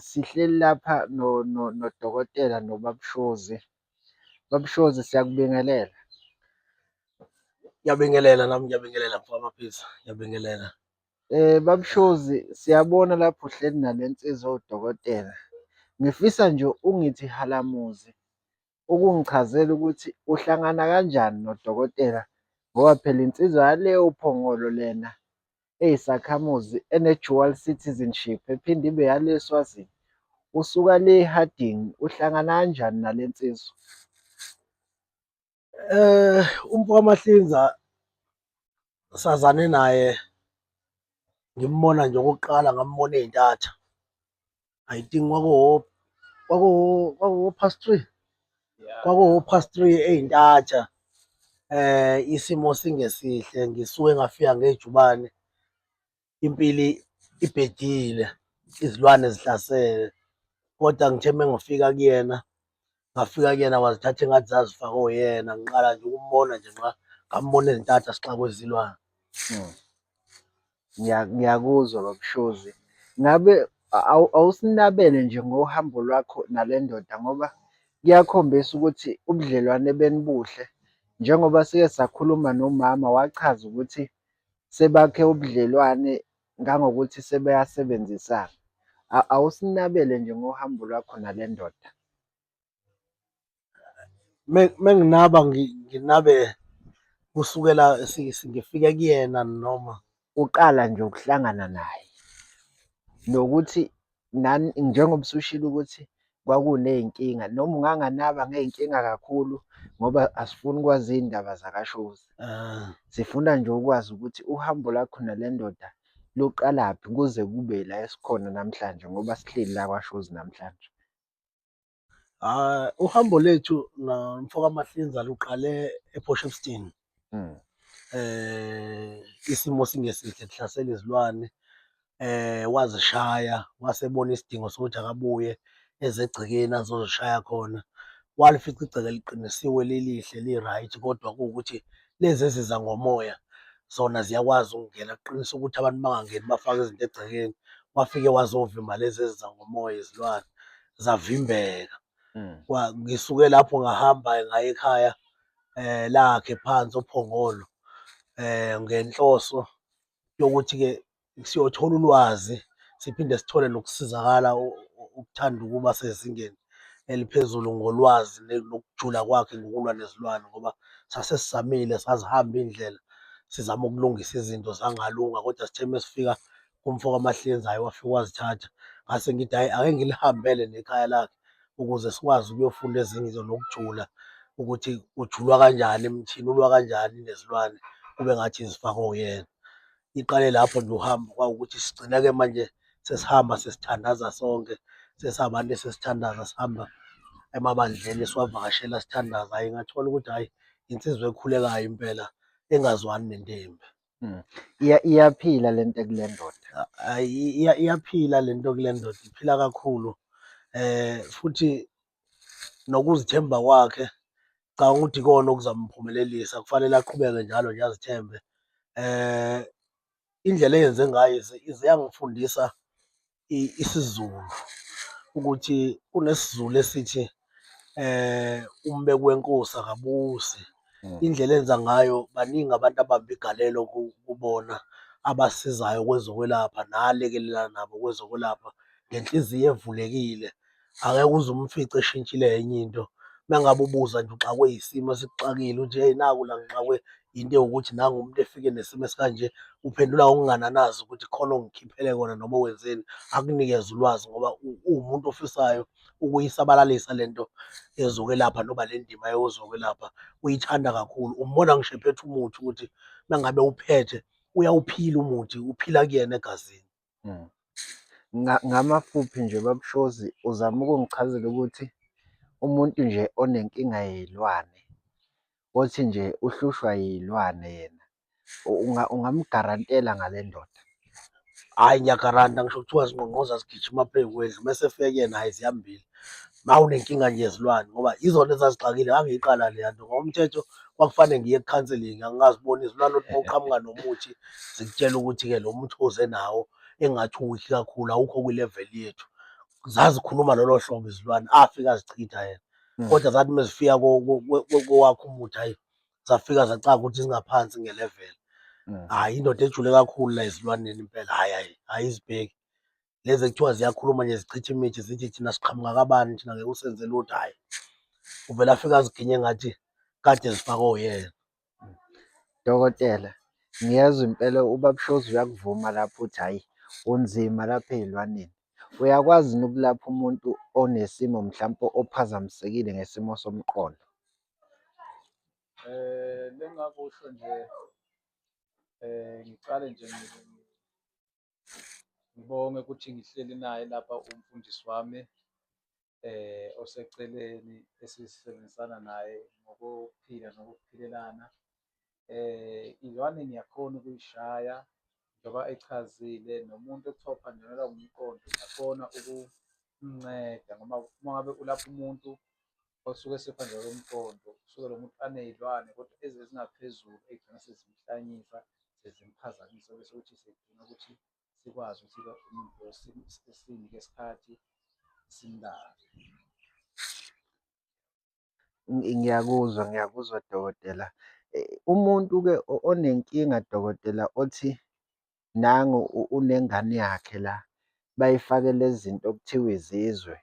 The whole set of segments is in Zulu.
Sihleli lapha nodokotela nobaba uShozi. Baba uShozi siyakubingelela. Ngiyabingelela nami ngiyabingelela mfo amaphisa ngiyabingelela. Baba uShozi siyabona lapho uhleli nale nsizwa ewudokotela. Ngifisa nje ungithi halamuzi ukungichazela ukuthi uhlangana kanjani nodokotela ngoba phela insizwa yale uPhongolo lena eyisakhamuzi ene-dual citizenship ephinde ibe yale eSwazini. Usuka le eHarding uhlangana kanjani nale nsizwa? Eh, umfo kaMahlinza sazane naye ngimbona nje okokuqala ngambona eyintatha I think kwakuwo kwakuwo kwakuwo past three kwakuwo past three ey'ntatha eh isimo singesihle ngisuke ngafika ngejubane impili ibhedile izilwane zihlasele kodwa ngithe mengifika kuyena ngafika kuyena wazithatha engathi zazifake oyena ngiqala nje ukumbona nje nxa ngambona ezintatha sixaka kwezilwane hmm. ngiyakuzwa babushozi ngabe awusinabele nje ngohambo lwakho nale ndoda ngoba kuyakhombisa ukuthi ubudlelwane benibuhle njengoba sike sakhuluma nomama wachaza ukuthi sebakhe ubudlelwane ngangokuthi sebeyasebenzisana awusinabele nje ngohambo lwakho nale ndoda menginaba nginabe kusukela ngifike kuyena noma uqala nje ukuhlangana naye nokuthi nani njengoba usushilo ukuthi kwakuney'nkinga noma unganganaba ngey'nkinga kakhulu ngoba asifuni ukwazi iy'ndaba zakashozi. Ah. Sifuna nje ukwazi ukuthi uhambo lakho nale ndoda luqalaphi kuze kube la esikhona namhlanje ngoba sihleli la kwashozi namhlanje. Ah, uhambo lethu nomfokaMahlinza luqale ePortshepstone. Mm. Eh, isimo singesihle kuhlasela izilwane. Eh, wazishaya, wasebona isidingo sokuthi akabuye ezegcekeni azozishaya khona. Walifica igceke liqinisiwe lilihle li-right kodwa kuwukuthi lezi eziza ngomoya zona ziyakwazi ukungena kuqinisa ukuthi abantu bangangeni bafake izinto egcekeni. Wafike wazovimba lezi eziza ngomoya izilwane. zavimbeka mm. ngisuke lapho ngahamba ngaye ekhaya eh lakhe phansi ophongolo eh ngenhloso yokuthi ke siyothola ulwazi siphinde sithole nokusizakala ukuthanda ukuba sezingeni eliphezulu ngolwazi nokujula kwakhe ngokulwa nezilwane ngoba sase sisamile sazihamba indlela sizama ukulungisa izinto zangalunga kodwa sithe mesifika kumfo kaMahlenza hayi wafika wazithatha ngase ngithi hayi ake ngilihambele nekhaya lakhe ukuze sikwazi ukuyofunda ezinye izinto nokujula ukuthi ujulwa kanjani emthini ulwa kanjani nezilwane kube ngathi izifaka oyena iqale lapho nje uhambo kwawukuthi sigcine-ke manje sesihamba sesithandaza sonke sesabantu sesithandaza sihamba emabandleni siwavakashela sithandaza hhayi ngathola ukuthi hhayi insizwa ekhulekayo impela engazwani nentembi. Mm. Iya- Iyaphila le nto ekule ndoda. Ayi, iya- iyaphila le nto kule ndoda iphila kakhulu eh futhi nokuzithemba kwakhe cha ukuthi ikona okuzamphumelelisa kufanele aqhubeke njalo nje azithembe eh indlela eyenze ngayo ize- ize yangifundisa isiZulu ukuthi kunesiZulu esithi um umbeki wenkosi akabusi. Mm. Indlela enza ngayo baningi abantu abamba igalelo kubona abasizayo kwezokwelapha nalekelela nabo kwezokwelapha ngenhliziyo evulekile. Angeke uze umfice eshintshile enye into uma ngabe ubuza nje uxakwe yisimo esikuxakile uthi hey naku la ngixakwe yinto ewukuthi nangu umuntu efike nesimo esikanje uphendula ngokungananazi ukuthi khona ongikhiphele kona noma wenzeni akunikeze ulwazi ngoba uwumuntu ofisayo ukuyisabalalisa le nto yezokwelapha noma le ndima yezokwelapha uyithanda kakhulu umbona ngisho ephethe umuthi ukuthi uma ngabe uphethe uyawuphila umuthi uphila kuyena egazini. Ngamafuphi nje baba uShozi uzama ukungichazela ukuthi umuntu nje onenkinga yey'lwane, othi nje uhlushwa iy'lwane yena ungamugarantela ngale ndoda? Hhayi ngiyagaranta ngisho kuthiwa zingqongqoza zigijima phezu kwendlu uma esefika kuyena hhayi ziyambila. mawunenkinga nje yezilwane ngoba yizona ezazixakile ngangiyiqala leya nto ngokomthetho kwakufanele ngiye ekhanselingi angingaziboni izilwane ukuthi mawuqhamuka nomuthi zikutshela ukuthi-ke lo muthi oze nawo engathi uwikhi kakhulu awukho kwi-level yethu zazikhuluma lolo hlobo izilwane afika azichitha yena hmm. kodwa zathi uma zifika kowakho umuthi hayi zafika zacaka ukuthi zingaphansi nge-level hmm. hhayi indoda ejule kakhulu la ezilwaneni impela hhayi hhayi ayizibheki lezi ekuthiwa ziyakhuluma nje zichitha imithi zithi thina siqhamuka kabani thina ngeke usenze lutho hhayi uvele afike aziginye ngathi kade zifakwe uyena dokotela ngiyezwa impela ubabshozi uyakuvuma lapho uthi hhayi unzima lapha ey'lwaneni uyakwazi yini ukulapha umuntu onesimo mhlawumpe ophazamisekile ngesimo somqondo um lengakusho nje um ngiqale nje Ngibonge ukuthi ngihleli naye lapha umfundisi wami eh oseceleni esisebenzisana naye ngokuphila nokuphilelana eh izwane ngiyakhona ukuyishaya njengoba echazile nomuntu ekuthiwa uphanjanelwa umqondo ngiyakhona ukumnceda ngoba uma ngabe ulapha umuntu osuke esephandle komqondo usuke lo muntu aney'lwane kodwa ezi ezingaphezulu ey'gcina sezimhlanyisa sezimphazamisa bese ukuthi sidinga ukuthi sikwazi ukuthi-ke umuntu lo sinike isikhathi simlale. Ngiyakuzwa, ngiyakuzwa dokotela. Umuntu-ke onenkinga dokotela othi nangu unengane yakhe la bayifake lezi zinto okuthiwa izizwe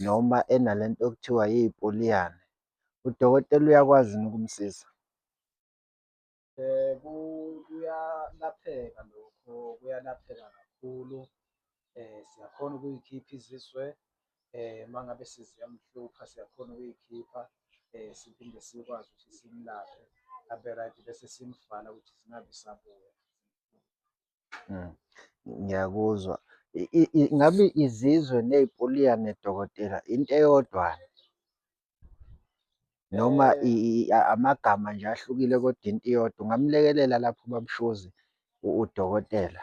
noma enale nto okuthiwa yipoliyane. Udokotela uyakwazi yini ukumsiza? Kuyalapheka lokho, kuyalapheka kakhulu. Siyakhona ukuyikhipha izizwe uma ngabe seziyamhlupha siyakhona ukuyikhipha siphinde sikwazi ukuthi simlaphe abe-right bese simvala ukuthi zingabi sabuya. Mm. Ngiyakuzwa. Ngabe izizwe ney'puliyane dokotela into eyodwa noma eh. amagama nje ahlukile kodwa into iyodwa. Ungamlekelela lapho ubab'Shozi udokotela?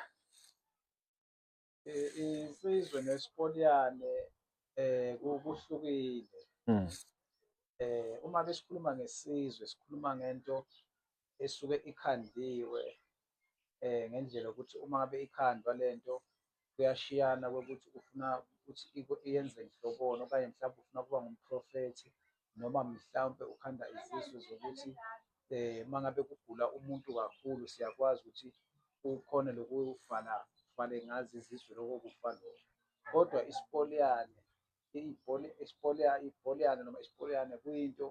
Insizwe nesikoliyane eh kuhlukile. Mm. Eh uma besikhuluma ngesizwe sikhuluma ngento esuke ikhandiwe eh ngendlela ukuthi uma ngabe ikhandwa lento kuyashiyana kokuthi ufuna ukuthi iyenze nhlobona okanye mhlawumbe ufuna ukuba ngumprofethi noma mhlawumbe ukhanda izisu zokuthi eh uma ngabe kugula umuntu kakhulu siyakwazi ukuthi ukhone lokuvala vale ngazi izizwe lokho kufa lokho kodwa isipoliyane ipoliyane noma isipoliyane kuyinto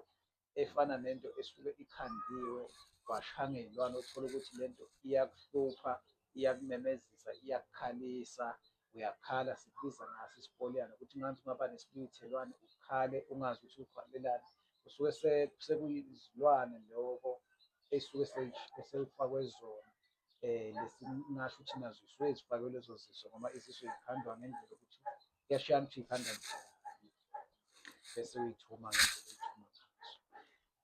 efana nento esuke ikhandiwe washanga iy'lwane uthole ukuthi lento iyakuhlupha iyakumemezisa iyakukhalisa uyakhala sikubiza ngaso isipoliyana ukuthi manje ungaba nesibiyithelwane ukhale ungazi ukuthi ukhalelani kusuke sekuyizilwane loko esuke seyifakwe zona um lesingasho ukuthi nazo zisuke zifakwe lezo ziso ngoba iziso zikhandwa ngendlela yokuthi kuyashiyana ukuthi yikhandwa njani bese uyithuma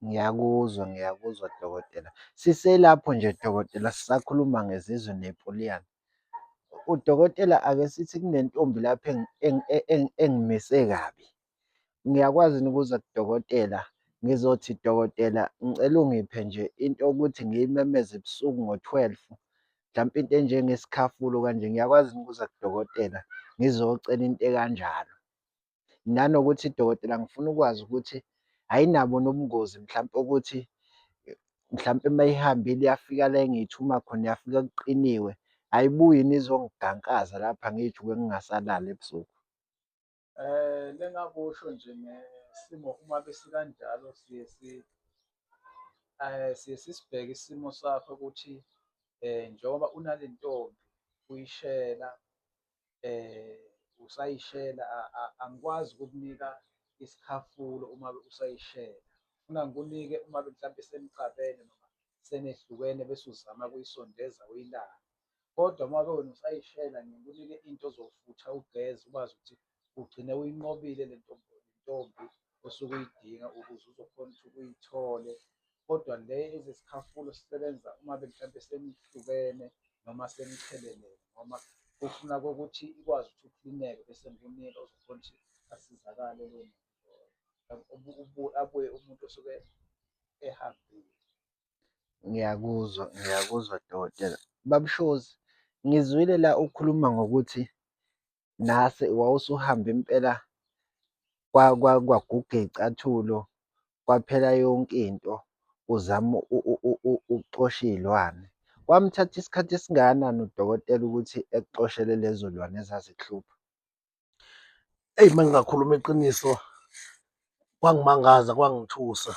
Ngiyakuzwa, ngiyakuzwa dokotela. Siselapho nje dokotela sisakhuluma ngezizwe nepoliyana. udokotela ake sithi kunentombi lapha engimise kabi ngiyakwazi yini ukuza kudokotela ngizothi dokotela ngicela ungiphe nje into yokuthi ngiyimemeze ebusuku ngo-twelve mhlampe into enjengesikhafulo kanje ngiyakwazi yini ukuza kudokotela ngizocela into ekanjalo. Nanokuthi dokotela ngifuna ukwazi ukuthi ayinabo nobungozi mhlampe ukuthi mhlampe uma ihambile yafika la engiyithuma khona yafika kuqiniwe, ayibuyi yini izongigankaza lapha ngijike ngingasalali ebusuku. Um engakusho nje ngesimo uma besikanjalo siye um siye sisibheke isimo sakho ukuthi um njengoba unale ntombi uyishela eh usayishela angikwazi ukukunika isikhafulo uma usayishela funa ngikunike uma mhlawumbe senixabene noma senehlukene bese uzama kuyisondeza uyilala kodwa uma ke wena usayishela ngikunike into ozofutha ugeze ukwazi ukuthi ugcine uyinqobile le ntombi osuke uyidinga ukuze uzokhona ukuthi uyithole kodwa le ezesikhafulo sisebenza uma mhlampe senihlukene noma senithelelene noma kufuna kokuthi ikwazi ukuthi uklineke bese ngikunike ozokhona ukuthi asizakale lo muntu abuye umuntu osuke ehambile. Ngiyakuzwa, ngiyakuzwa dokotela. Babushozi, ngizwile la ukhuluma ngokuthi nase wawusuhambe impela kwaguga iy'cathulo kwaphela yonke into uzama ukuxosha iy'lwane. Kwamthatha isikhathi esingakanani udokotela ukuthi ekuxoshele lezo lwane ezazikuhlupha? Eyi uma ngingakhuluma iqiniso kwangimangaza kwangithusa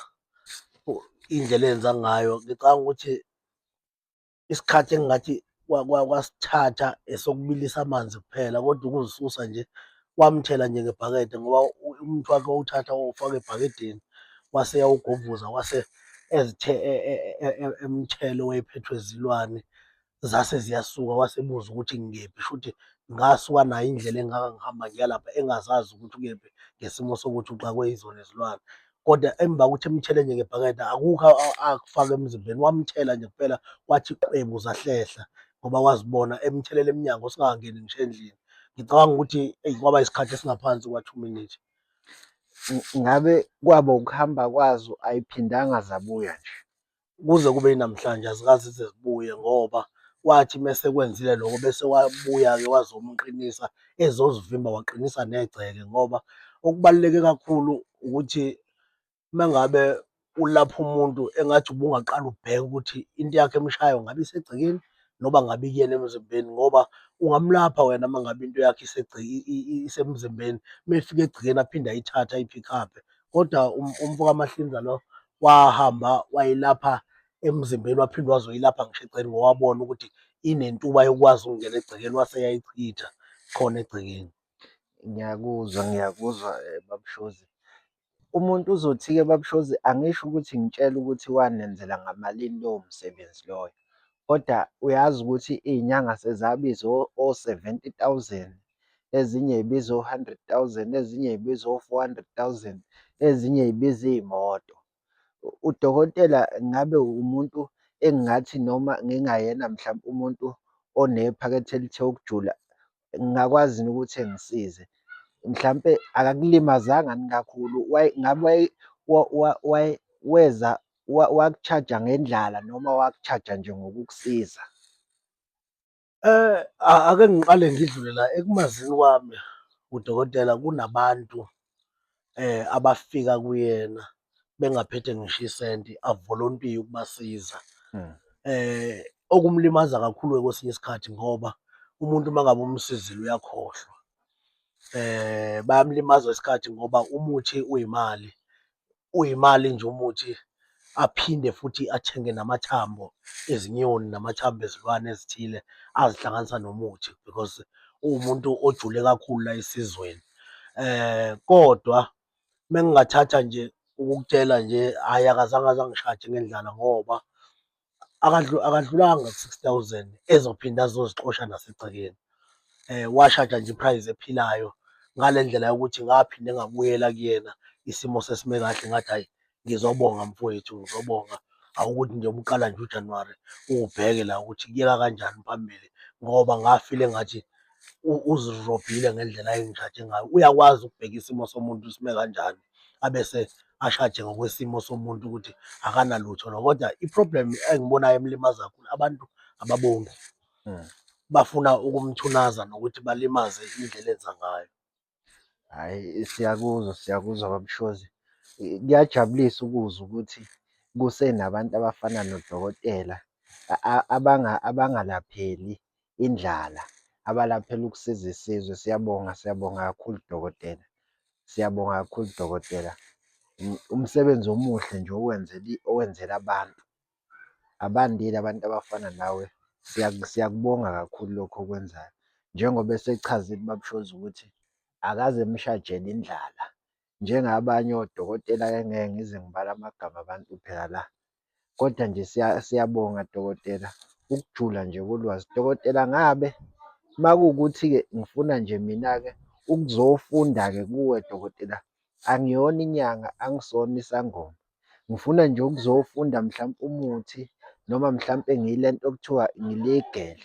indlela enza ngayo ngicabanga ukuthi isikhathi engingathi kwasithatha esokubilisa amanzi kuphela kodwa ukuzisusa nje wamthela nje ngebhakede ngoba umuntu wakhe wawuthatha wawufaka ebhakedeni wase yawugovuza wase ezithe e, e, e, emthelo wayephethwe zilwane zase ziyasuka wasebuza ukuthi ngikephi shuthi ngasuka nayo indlela engaka ngihamba ngiyalapha engazazi ukuthi ukephi ngesimo sokuthi uxakwe izona izilwane kodwa emva kokuthi emthele nje ngebhakede akukho akufaka emzimbeni wamthela nje kuphela kwathi qwebu zahlehla ngoba wazibona emthelela emnyango singakangeni ngisho endlini ngicabanga ukuthi eyi kwaba isikhathi esingaphansi kwa-two minutes ngabe kwaba ukuhamba kwazo ayiphindanga zabuya nje kuze kube yinamhlanje azikaze zize zibuye ngoba wathi uma esekwenzile lokho bese wabuya-ke wazomqinisa ezozivimba waqinisa negceke ngoba okubaluleke kakhulu ukuthi uma ngabe ulapha umuntu engathi ubungaqala ubheke ukuthi into yakhe emshayo ngabe isegcekeni noba ngabe ikuyena emzimbeni ngoba ungamlapha wena uma ngabe into yakhe isemzimbeni uma efika egcekeni aphinde ayithathe ayi-pick up-e kodwa um-, umfo kaMahlinza lo wahamba wayilapha emzimbeni waphinde wazoyilapha ngisho egcekeni ngoba wabona ukuthi inentuba yokwazi ukungena egcekeni wase yayichitha khona egcekeni. Ngiyakuzwa, ngiyakuzwa eh, babushozi. Umuntu uzothi-ke babushozi angisho ukuthi ngitshela ukuthi wanenzela ngamalini lowo msebenzi loyo. Kodwa uyazi ukuthi iy'nyanga sezabiza o-seventy thousand ezinye y'biza o-hundred thousand, ezinye y'biza o-four hundred thousand, ezinye y'biza iy'moto. Udokotela ngabe umuntu engingathi noma ngingayena mhlampe umuntu onephakethe elithe ukujula ngingakwazi yini ukuthi engisize? Mhlampe akakulimazanga yini kakhulu? Ngabe weza waku-charge-a ngendlala noma waku-charge-a nje ngokukusiza? Eh, ake ngiqale ngidlule la ekumazini kwami udokotela kunabantu eh abafika kuyena bengaphethe ngisho isenti avolontiye ukubasiza hmm. eh okumlimaza kakhulu kwesinye isikhathi ngoba umuntu uma ngabe umsizile uyakhohlwa eh bayamlimaza isikhathi ngoba umuthi uyimali uyimali nje umuthi aphinde futhi athenge namathambo ezinyoni namathambo ezilwane ezithile azihlanganisa nomuthi because uwumuntu ojule kakhulu la esizweni eh kodwa mengingathatha nje ukukutshela nje hhayi akazange azangishaje ngendlala ngoba akadlulanga ku-six thousand ezophinde azozixosha nasegcekeni. Washaja nje i-price ephilayo ngale ndlela yokuthi ngaphinde ngabuyela kuyena isimo sesime kahle ngathi hhayi ngizobonga mfowethu ngizobonga awukuthi nje ubuqala nje uJanuwari uwubheke la ukuthi kuyeka kanjani phambili ngoba ngafile ngathi uzirobhile ngendlela ayengitshaje ngayo. Uyakwazi ukubheka isimo somuntu sime kanjani. abese ashaje ngokwesimo somuntu ukuthi akanalutho lo kodwa i-problem engibonayo emlimaza kakhulu abantu ababongi hmm. bafuna ukumthunaza nokuthi balimaze indlela enza ngayo hhayi siyakuzwa siyakuzwa babushozi kuyajabulisa ukuzwa ukuthi kusenabantu abafana nodokotela abangalapheli indlala abalaphela ukusiza isizwe siyabonga siyabonga kakhulu dokotela. Siyabonga kakhulu dokotela umsebenzi omuhle nje owenzela owenzela abantu. Abandile abantu abafana nawe siyakubonga kakhulu lokhu okwenzayo njengoba esechazile ubaba uShozi ukuthi akaze emshajele indlala njengabanye odokotela engeke ngize ngibale amagama abantu phela la. Kodwa nje siyabonga dokotela ukujula nje kolwazi. Dokotela ngabe uma kuwukuthi-ke ngifuna nje mina-ke ukuzofunda-ke kuwe dokotela, angiyona inyanga, angisona isangoma. Ngifuna nje ukuzofunda mhlampe umuthi noma mhlampe ngile nto okuthiwa ngi-legal.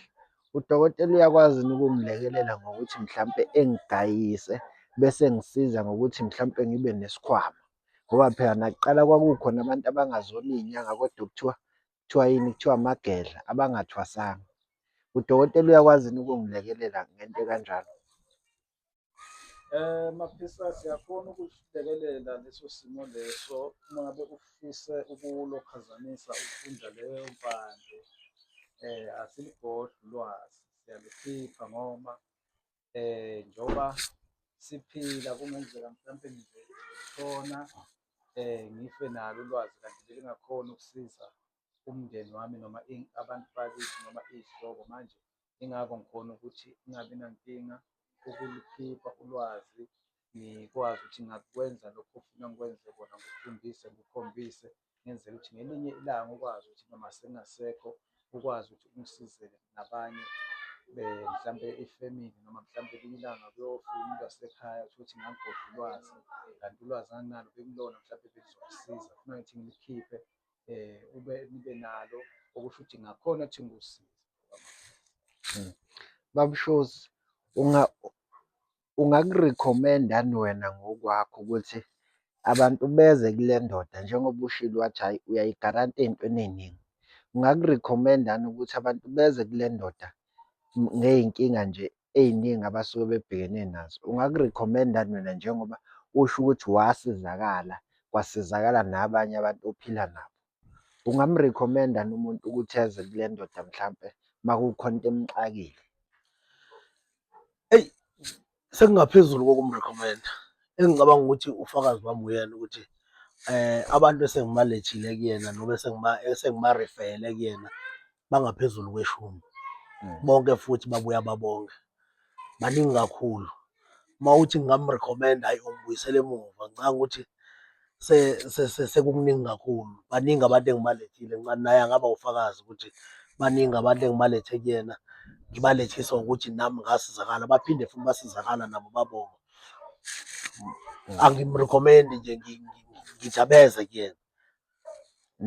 Udokotela uyakwazi yini ukungilekelela ngokuthi mhlampe engidayise bese engisiza ngokuthi mhlampe ngibe nesikhwama? Ngoba phela nakuqala kwakukhona abantu abangazona iy'nyanga kodwa okuthiwa kuthiwa yini, kuthiwa amagedla abangathwasanga. Udokotela uyakwazi yini ukungilekelela ngento ekanjalo? Eh mafisa siyakhona ukusilekelela leso simo leso uma ngabe ufise ukulokhazanisa ukufunda leyo mpande eh asiligodli ulwazi siyalukhipha ngoba eh njengoba siphila kungenzeka mhlawumbe nje khona eh ngife nalo ulwazi kanti belingakhona ukusiza umndeni wami noma abantu bakithi noma izihlobo manje Yingakho ngikhona ukuthi ingabi nankinga ukulikhipha ulwazi, ngikwazi ukuthi ngakwenza lokho ofuna ngikwenze kona, ngikufundise, ngikukhombise ngenzela ukuthi ngelinye ilanga ukwazi ukuthi noma sengasekho ukwazi ukuthi ungisize nabanye mhlampe ifemini noma mhlampe elinye ilanga kuyofika umuntu wasekhaya uthole ukuthi ngagodla ulwazi kanti ulwazi anginalo bekulona mhlampe belizomsiza funa ngithi ngilikhiphe eh ube nibe nalo okusho ukuthi ngakhona ukuthi ngikusize hmm. babushows unga ungakurecommenda ni wena ngokwakho ukuthi abantu beze kule ndoda njengoba ushilo wathi hhayi uyayigaranta ey'ntweni ey'ningi ungakurecommenda ni ukuthi abantu beze kule ndoda ngey'nkinga nje ey'ningi abasuke bebhekene nazo. Ungaku-recommend-ani wena njengoba usho ukuthi wasizakala, kwasizakala nabanye abantu ophila nabo? Ungamu-recommend-ani umuntu ukuthi eze kule ndoda mhlampe uma kukhona into emxakile? Eyi, sekungaphezulu kokumu-recommend-a. Engicabanga ukuthi ufakazi bami uyena ukuthi abantu esengibalethile kuyena noma esengibarifeyele kuyena, bangaphezulu kweshumi mm. bonke futhi babuya babonke baningi kakhulu uma uthi ngingamrecommenda ayi ungibuyisele emuva ngicanga ukuthi sekukuningi kakhulu baningi abantu engibalethile ngincane naye angaba ufakazi ukuthi baningi abantu engibalethe kuyena ngibalethisa ukuthi nami ngasizakala baphinde futhi basizakala nabo babonga angimrecommend nje ngijabeze kuyena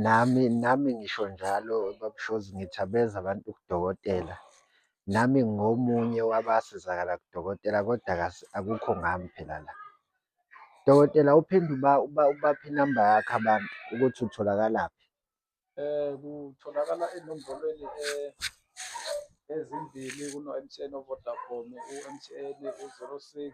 Nami nami ngisho njalo baba uShozi ngithi abeze abantu kudokotela. Nami ngingomunye wabasizakala kudokotela koda akukho ngami phela la. Dokotela uphinde ubaphe inamba yakho abantu ukuthi utholakalaphi? Kutholakala enombolweni ezimbili kuno-M_T_N oVodacom, u-M_T_N u-zero six,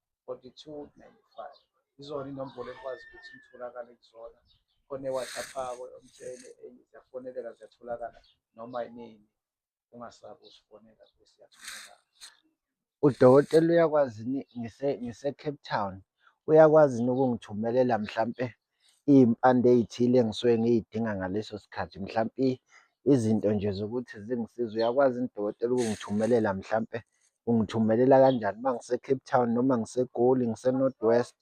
4295 izona inombolo ekwazi ukuthi itholakale kuzona khona ewhatsapp akho umtshele ziyafoneleka ziyatholakala noma inini ungasabi usifonela siyatholakala udokotela uyakwazi ngise ngise Cape Town uyakwazi ukungithumelela mhlampe iy'mpande ey'thile engisuke ngiy'dinga ngaleso sikhathi. Mhlampe izinto nje zokuthi zingisize uyakwazi yini dokotela ukungithumelela mhlampe ungithumelela kanjani uma ngise-Cape Town noma ngiseGoli, ngise-North West,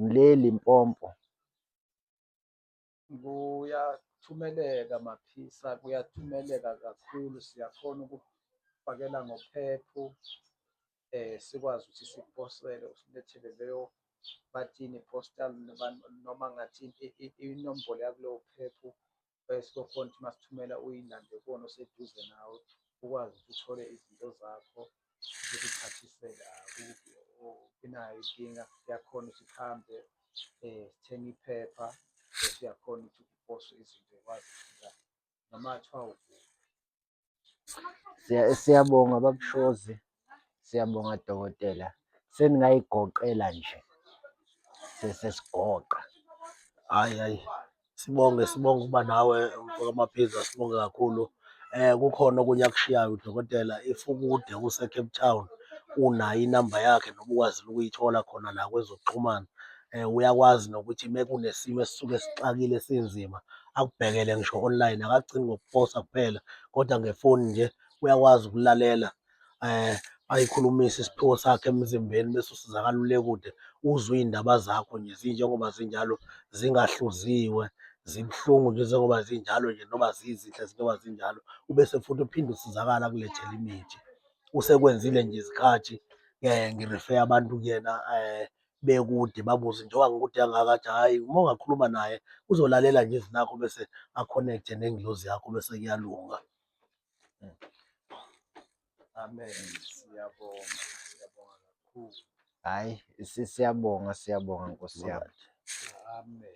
ngile-Limpopo? Kuyathumeleka Maphisa, kuyathumeleka kakhulu. Siyakhona ukukufakela ngophepho eh sikwazi ukuthi siphosele usilethele leyo bathini postal noma ngathi inombolo yakuleyo phephu eh, sizokhona ukuthi masithumela uyilande kuwona oseduze nawe ukwazi ukuthi uthole izinto zakho ukuphathisela inayo inkinga yakhona ukuthi kuhambe um sithenge iphepha bese uyakhona ukuthi kuposwe izinto ekwazi ukufika noma kuthiwa ukuphi Siyabonga babushozi, siyabonga dokotela. Seningayigoqela nje sesesigoqa. Hhayi hhayi sibonge sibonge ukuba nawe mfokamaphiza sibonge kakhulu. Eh kukhona okunye akushiyayo udokotela if ukude useCape Town unayo inamba yakhe noma ukwazile ukuyithola khona la kwezokuxhumana. Eh uyakwazi nokuthi mekunesimo esisuke sixakile sinzima akubhekele ngisho online akagcini ngokuposa kuphela kodwa ngefoni nje uyakwazi ukulalela eh ayikhulumisa isiphiwo sakhe emzimbeni bese usizakala ule kude uzwe iy'ndaba zakho nje zinjengoba zinjalo zingahluziwe zibuhlungu nje njengoba zinjalo nje noma zizinhle njengoba zinjalo ubese futhi uphinde usizakala kulethela imithi usekwenzile nje izikhathi um ngirifeya abantu kuyena um bekude babuze nje wangukude kangaka athi hhayi uma ungakhuluma naye uzolalela nje izwi lakho bese a-connect-e nengilozi yakho bese kuyalunga. Amen. Siyabonga. Siyabonga kakhulu. Hhayi si- siyabonga siyabonga nkosi yami. Amen.